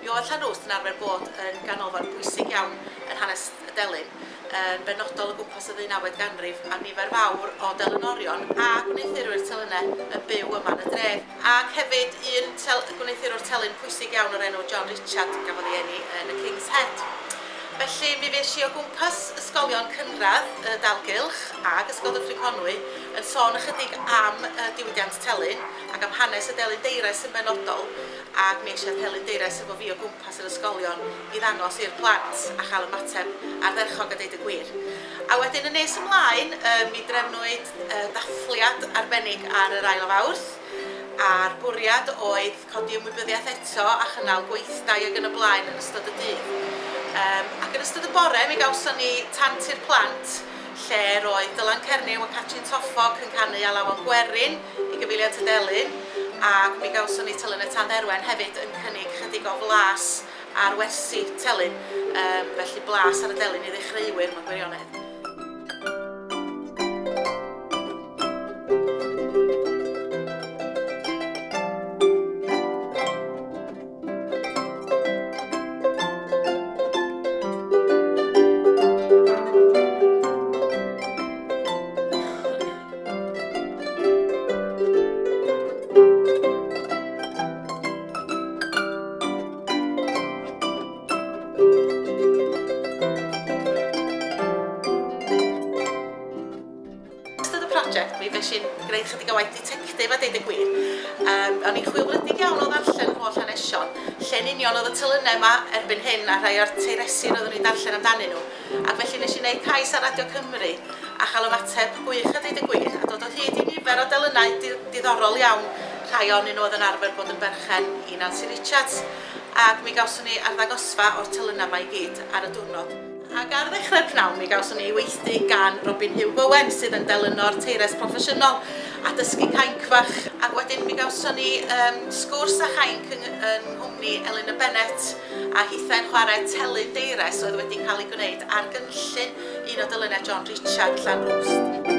Mi oedd Llanrwst yn arfer bod yn ganolfan bwysig iawn yn hanes y delyn, yn benodol o gwmpas y ddeunawfed ganrif, a nifer fawr o delynorion a gwneuthurwyr telynau yn byw yma yn y dref, ac hefyd un gwneuthurwr telyn pwysig iawn o'r enw John Richard gafodd ei eni yn y King's Head. Felly mi fuesh i o gwmpas ysgolion cynradd y dalgylch ag Ysgol Dyffryn Conwy yn sôn ychydig am y diwydiant telyn ac am hanes y delyn deires yn benodol, ac mi eisiau pellyndeires efo fi o gwmpas yr ysgolion i ddangos i'r plant a chael ymateb ardderchog a deud y gwir. A wedyn yn nes ymlaen yy mi drefnwyd yy ddathliad arbennig ar yr ail o Fawrth a'r bwriad oedd codi ymwybyddiaeth eto a chynnal gweithdai ag yn y blaen yn ystod y dydd. Yym ac yn ystod y bore mi gawson ni tant i'r plant lle roedd Dylan Cernyw a Catrin Toffog yn canu Alawon Gwerin, i Gyfeiliant y Delyn ac mi gawson ni Telyn y Tad Erwen hefyd yn cynnig chydig o flas ar wersi telyn, yym felly blas ar y delyn i ddechreuwyr mewn gwirionedd. project mi fes i'n gwneud chydig o waith detective a deud y gwir. Um, o'n i'n chwilfrydig iawn o ddarllen yr holl hanesion, lle'n union oedd y tylynau yma erbyn hyn a rhai o'r teiresi roeddwn i'n darllen amdanyn nhw. Ac felly wnes i wneud cais ar Radio Cymru a chael ymateb gwych a deud y gwir, a dod o hyd i nifer o delynau diddorol iawn, rhai ohonyn nhw oedd yn arfer bod yn berchen i Nancy Richards, ac mi gawson ni arddangosfa o'r telynau 'ma i gyd ar y diwrnod. Ac ar ddechrau'r pnawn mi gawson ni weithdy gan Robin Huw Bowen sydd yn delynor teires proffesiynol a dysgu cainc fach, ac wedyn mi gawson ni sgwrs â chainc yng nghwmni Elin a Bennett. a hithau'n chwarae telyn deires oedd wedi cael ei gwneud ar gynllun un o dyluniau John Richard, Llanrwst.